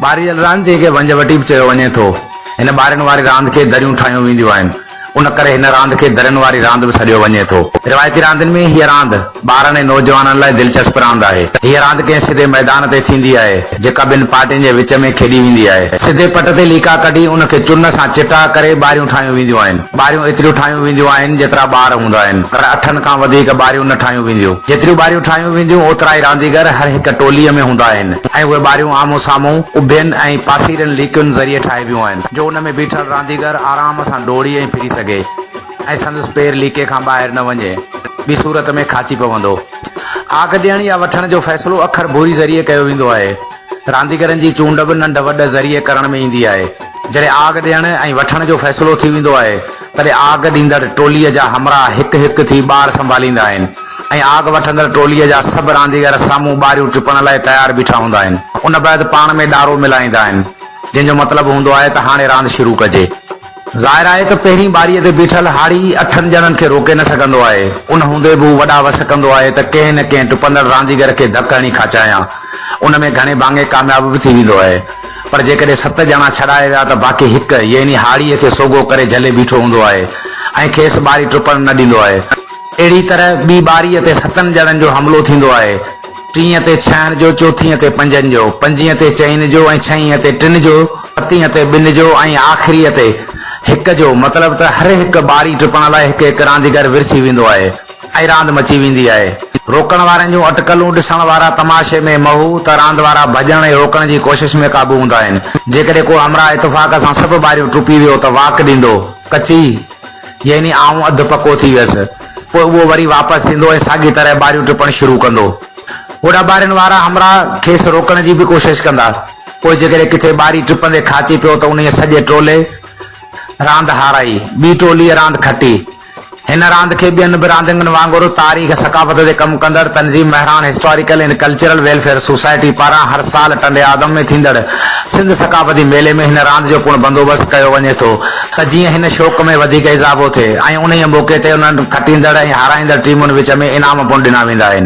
ٻاريل راند جنهن کي ونج وٽي به چيو وڃي ٿو، هن ٻارين واري راند کي دريون ٺاهيون وينديون آهن، ان ڪري هن راند کي درين واري راند به سڏيو وڃي ٿو. روايتي راندين ۾ هيء راند ٻارن ۽ نوجوانن لاء دلچسپ راند آهي. هيء راند ڪنهن سڌي ميدان تي ٿيندي آهي، جيڪا ٻن پارٽين جي وچ ۾ کيڏي ويندي آهي. سڌي پٽ تي ليڪا ڪڍي ان کي چن سان چٽاء ڪري ٻاريون ٺاهيون وينديون آهن. ٻاريون ايتريون ٺاهيون وينديون آهن جيترا ٻار هوندا آهن پر اٺن کان وڌيڪ ٻاريون نه ٺاهيون وينديون جيتريون ٻاريون ٺاهيون وينديون اوترا ئي رانديگر هر هڪ ٽولي ۾ هوندا آهن ۽ اهي ٻاريون آمهون سامهون اڀين ۽ پاسيرين ليڪين ذريعي ٺاهبيون آهن جو ان ۾ بيٺل رانديگر آرام سان ڊوڙي ۽ ڦري سگهي ۽ سندس پير ليڪي کان ٻاهر نه وڃي ٻي صورت ۾ کاچي پوندو آگ ڏيڻ يا وٺڻ جو فيصلو اکر ڀوري ذريعي ڪيو ويندو آهي. رانديگرن جي چونڊ به ننڍ وڏ ذريعي ڪرڻ ۾ ايندي آهي. جڏهن آگ ڏيڻ ۽ وٺڻ جو فيصلو ٿي ويندو آهي، تڏهن آگ ڏيندڙ ٽوليء جا همراهه هڪ هڪ ٿي ٻار سنڀاليندا آهن ۽ آگ وٺندڙ ٽوليء جا سڀ رانديگر سامهون ٻاريون ٽپڻ لاء تيار بيٺا هوندا آهن. ان بعد پاڻ ۾ ڏارو ملائيندا آهن، جنهن جو مطلب هوندو آهي ته هاڻي راند شروع ڪجي. ظاهر آهي ته پهرين ٻاريء تي بيٺل هاڙهي اٺن ڄڻن کي روڪي نه سگهندو آهي. ان هوندي به هو وڏا وس ڪندو آهي ته ڪنهن نه ڪنهن ٽپندڙ رانديگر کي ڌڪ هڻي کاچايان. ان ۾ گهڻي ڀاڱي ڪامياب به ٿي ويندو آهي. پر جيڪڏهن ست ڄڻا ڇڏائي ويا ته باقي هڪ، يعني هاڙهيء کي سوگهو ڪري جهلي بيٺو هوندو آهي ۽ کيس ٻاري ٽپڻ نه ڏيندو آهي. اهڙيء طرح ٻي ٻاريء تي ستن ڄڻن جو حملو ٿيندو آهي. ٽينء تي ڇهن جو، چوٿينء تي پنجن جو، پنجينء تي چئن جو ۽ ڇهينء تي ٽن جو، ستينء تي ٻن جو ۽ آخريء تي هڪ جو، مطلب ته هر هڪ ٻاري ٽپڻ لاء هڪ هڪ رانديگر ورڇي ويندو آهي ۽ راند مچي ويندي آهي. روڪڻ وارن جون اٽڪلون ڏسڻ وارا تماشي ۾ محو ته راند وارا ڀڄڻ ۽ روڪڻ جي ڪوشش ۾ قابو هوندا آهن. جيڪڏهن ڪو همراهه اتفاق سان سڀ ٻاريون ٽپي ويو ته واڪ ڏيندو، ڪچي، يعني آئون اڌ پڪو ٿي ويس. پوء اهو وري واپس ٿيندو ۽ ساڳي طرح ٻاريون ٽپڻ شروع ڪندو. هوڏا ٻارين وارا همراهه کيس روڪڻ جي به ڪوشش ڪندا. پوء جيڪڏهن ڪٿي ٻاري ٽپندي کاچي پيو ته انهيء سڄي ٽولي راند هارائي. ٻي ٽوليء راند کٽي. هن راند کي ٻين به رانديگن وانگر تاريخ ثقافت تي ڪم ڪندڙ تنظيم Mehran historical and cultural welfare society پاران هر سال ٽنڊي آدم ۾ ٿيندڙ سنڌ ثقافتي ميلي ۾ هن راند جو پڻ بندوبست ڪيو وڃي ٿو. ته جيئن هن شوق ۾ وڌيڪ اضافو ٿئي ۽ انهيء موقعي تي انهن کٽيندڙ ۽ هارائيندڙ ٽيمن وچ ۾ انعام پڻ ڏنا ويندا آهن.